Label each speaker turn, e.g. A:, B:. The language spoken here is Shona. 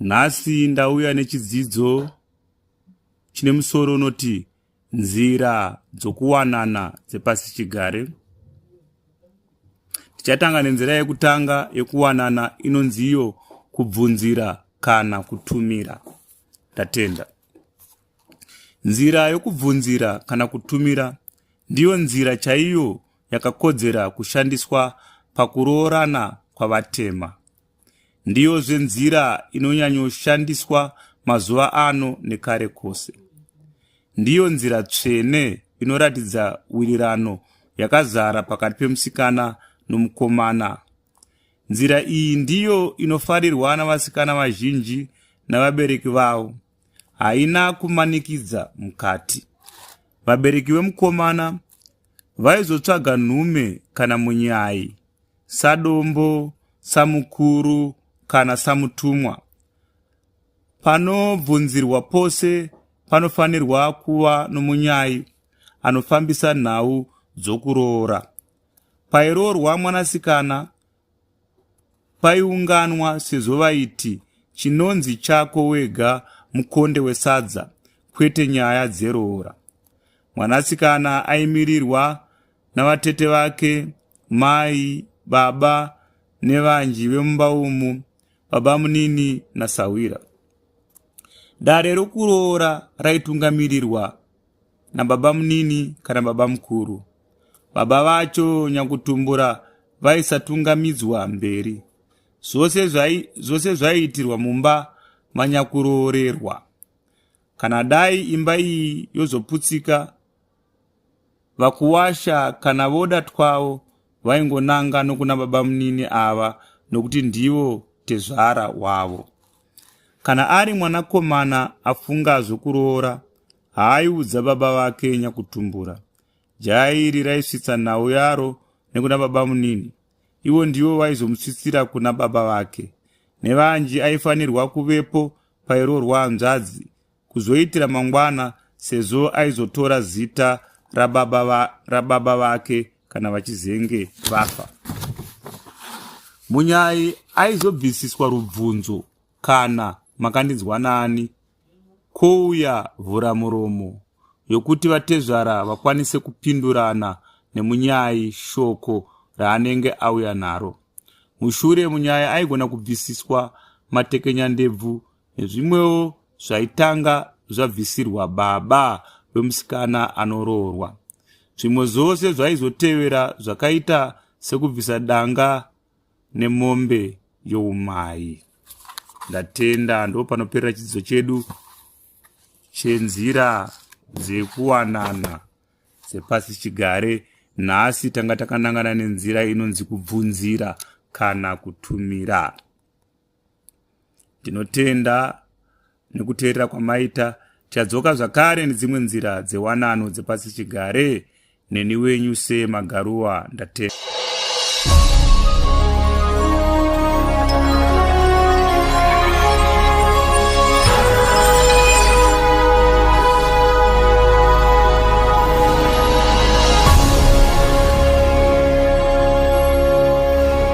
A: Nhasi ndauya nechidzidzo chine musoro unoti nzira dzokuwanana dzepasi chigare. Tichatanga nenzira yekutanga yekuwanana inonzi iyo kubvunzira kana kutumira. Ndatenda. Nzira yokubvunzira kana kutumira ndiyo nzira chaiyo yakakodzera kushandiswa pakuroorana kwavatema. Ndiyozve nzira inonyanyoshandiswa mazuva ano nekare kose. Ndiyo nzira tsvene inoratidza wirirano yakazara pakati pemusikana nomukomana. Nzira iyi ndiyo inofarirwa navasikana vazhinji navabereki vavo. haina kumanikidza mukati. Vabereki vemukomana vaizotsvaga nhume kana munyai, sadombo, samukuru kana samutumwa. Panobvunzirwa pose panofanirwa kuva nomunyai anofambisa nhau dzokuroora. Pairoorwa mwanasikana, Paiunganwa sezvo vaiti chinonzi chako wega mukonde wesadza kwete nyaya dzeroora. Mwanasikana aimirirwa navatete vake, mai, baba nevanji vemumba umu, baba munini nasahwira. Dare rokuroora raitungamirirwa nababamunini kana babamukuru. Baba vacho nyakutumbura vaisatungamidzwa mberi. Zvose zvaiitirwa mumba manyakuroorerwa. Kana dai imba iyi yozoputsika, vakuwasha kana voda twavo vaingonanga nokuna babamunini ava nokuti ndivo tezvara wavo. Kana ari mwanakomana afunga zvokuroora, haaiudza baba vake nyakutumbura. Jaya iri raisvitsa nhau yaro nekuna baba munini, ivo ndivo vaizomusvitsira kuna baba vake. Nevanji aifanirwa kuvepo pairoorwa hanzvadzi kuzoitira mangwana sezvo aizotora zita rababa, va, rababa vake kana vachizenge vafa munyai aizobvisiswa rubvunzo kana makandinzwa nani kouya vhura muromo yokuti vatezvara vakwanise kupindurana nemunyai shoko raanenge auya naro mushure munyaya aigona kubvisiswa matekenyandebvu nezvimwewo zvaitanga zvabvisirwa baba vemusikana anoroorwa zvimwe zvose zvaizotevera zvakaita sekubvisa danga nemombe youmai ndatenda ndo panoperera chidzidzo chedu chenzira dzekuwanana dzepasi chigare nhasi tanga takanangana nenzira inonzi kubvunzira kana kutumira ndinotenda nekuteerera kwamaita tichadzoka zvakare nedzimwe nzira dzewanano dzepasi chigare neni wenyu semagaruwa ndatenda